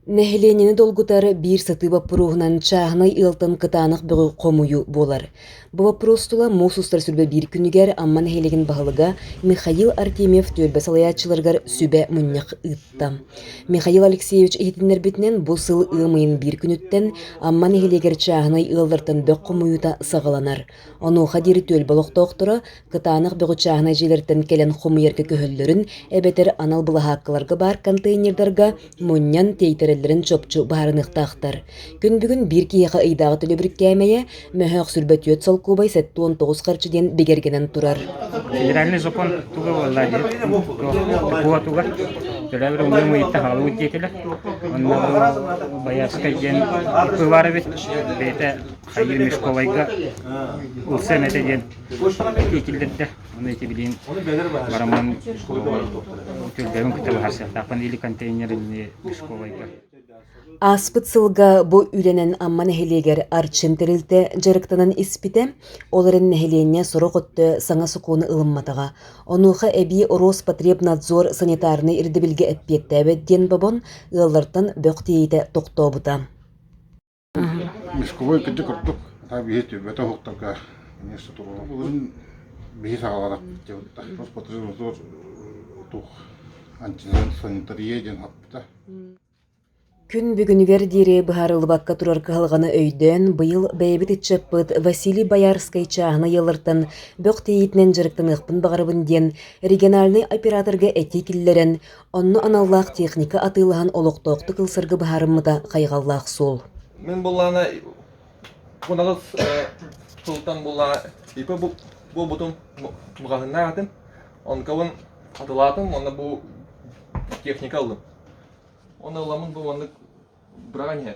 Нэһилиэнньэни долгутар биир сатыы боппуруоһунан чааһынай ыалтан кытаанах бөҕү хомуйуу буолар. Бу боппуруос тула муус устар сүлбэ биир күнүгэр Амма нэһилиэгин баһылыга Михаил Артемьев түөлбэ салайааччыларыгар сүбэ мунньах ыытта. Михаил Алексеевич иһитиннэрбитинэн, бу сыл ыам ыйын биир күнүттэн Амма нэһилиэгэр чааһынай ыаллартан бөх хомуйуута саҕаланар. Онуоха диэри түөлбэ олохтоохторо кытаанах бөҕүчааһынай дьиэлэртэн кэлэн хомуйарга көһөллөрүн эбэтэр анал былаһааккаларга баар контейнердарга мунньан тиэйтэрэллэрин чопчу быһаарыныахтаахтар. Күн бүгүн биир киһиэхэ ыйдааҕы төлөбүр кээмэйэ мөһөөх сүүрбэ түөрт солкуобай сэттэ уон тоҕус харчы диэн бигэргэнэн турар. Федеральный закон туга буолла диэт, тугугар төлөбүр умнум ыйытта хаалыбыт диэтилэр. Онно байыастар диэн бывар эбит. Бэйэтэ Школайга Улсен этэ диэн иитиллэрдэ. Ону итибилиин бараман түрдөөбүн кытта баһарсыахтаахпын или контейнеринни школайга. Ааспыт сылга бу үлэнэн Амма нэһилиэгэр Арчын тэрилтэ дьарыктанан испитэ, ол эрэн нэһилиэнньэ сорох өттө саҥа сокуону ылымматаҕа. Онуоха эбии Роспотребнадзор санитарнай ирдэбилгэ эппиэттээбэт диэн бобон, ыаллартан бөх тиэйитэ тохтообута. Мешковой кырдьык ордук хата биһи түббэтэ уһуктарга эмиэ сотурула былырын биһи саҕалара Роспотребнадзор туох антисанитария диэн хаппыта Күн бүгүнүгэр диэри быһаарыллыбакка турар кыһалҕаны өйдөөн, быйыл бэйэбит ыччаппыт Василий Боярскай чааһынай ыаллартан бөх тиэйиитинэн дьарыктаныахпын баҕарабын диэн региональнай операторга этии киллэрэн, Онно аналлаах техника атыылаһан олохтоохтук ылсарга быһаарыммыта хайҕаллаах суол. Мин буллаана кунаҕыс султан буллаана ипэ буобутум маҕаһыннаах атым онкабын атылаатым онно бу техника ыллым онно ыламын бу оннук быраҕан иһэ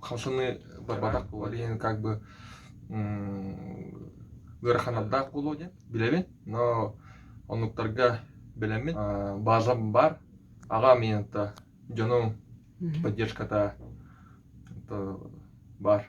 Халшаны барбатах буолар иһин как бы ыараханардаах буолуо диэн билэбин, но онуктарга билэммин базам бар аҕа миэнта дьонум поддержката бар